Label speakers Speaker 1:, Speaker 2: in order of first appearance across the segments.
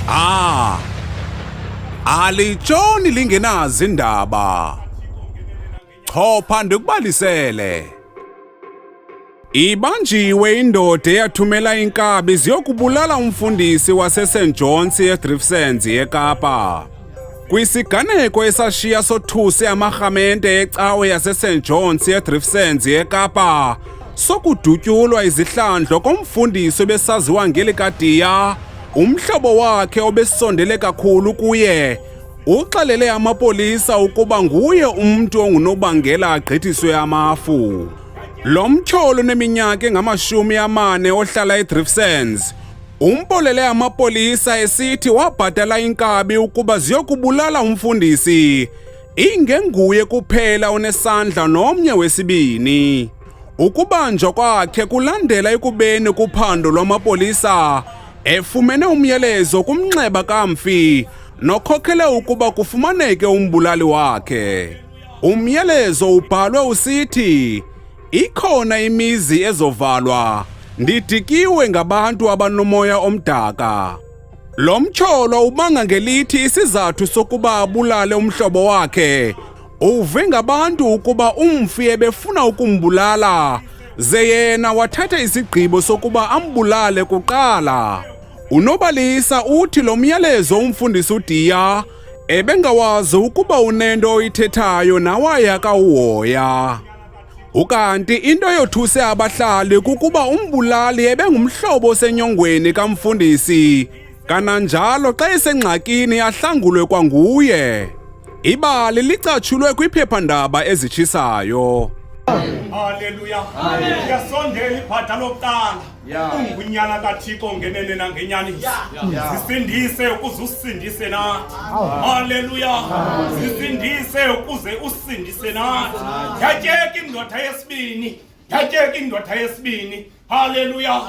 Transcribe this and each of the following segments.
Speaker 1: Ah! Alitshoni lingenazi indaba. Chopha ndikubalisele. Ibanjiwe indoda eyathumela inkabi ziyokubulala umfundisi waseSt John's eDrifsens eKapa. Kwisiganeko esashiya sothuse amarhamente ecawe yaseSt John's eDriftsens eKapa sokudutyulwa izihlandlo komfundisi obesaziwa ngeli kadiya umhlobo wakhe obesondele kakhulu kuye uxelele amapolisa ukuba nguye umntu ongunobangela agqithiswe amafu lo mtyholo uneminyaka engamashumi amane ohlala edrifsens Umbolele amapolisa esithi wabhatala inkabi ukuba ziyokubulala umfundisi. Ingenguye kuphela onesandla nomnye wesibini. Ukubanjwa kwakhe kulandela ekubeni kuphando lwamapolisa efumene umyalezo kumnxeba kamfi nokhokele ukuba kufumaneke umbulali wakhe. Umyalezo ubhalwe usithi Ikhona imizi ezovalwa, ndidikiwe ngabantu abanomoya omdaka. Lo mtyholo ubanga ngelithi isizathu sokuba abulale umhlobo wakhe uve ngabantu ukuba umfi ebefuna ukumbulala ze yena wathatha isigqibo sokuba ambulale kuqala. Unobalisa uthi lo myalezo umfundisi uDiya ebengawazi ukuba unento oyithethayo nawayaka uhoya. Ukanti into eyothuse abahlali kukuba umbulali ebengumhlobo osenyongweni kamfundisi. Kananjalo xa esengxakini ahlangulwe kwanguye. Ibali licatshulwe kwiphephandaba ezitshisayo.
Speaker 2: Haleluya. Yasondela ibhada lokuqala. Yeah. ungunyana kathixo ngenene nangenyani Yeah. zisindise ukuze usindise nathi haleluya zisindise ukuze usindise nathi yatyeka indoda yesibini yatyeka indoda yesibini haleluya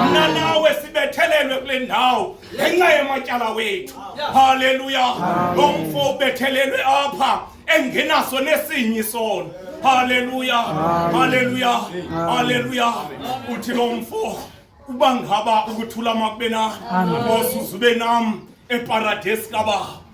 Speaker 2: mna nawe sibethelelwe kule ndawo ngenxa yematyala wethu haleluya lo mfo ubethelelwe apha engenaso nesinye isono haleluya haleluya haleluya uthi lo mfo uba ngaba ukuthula makube nani ngosuze ube nam eparadesi kababa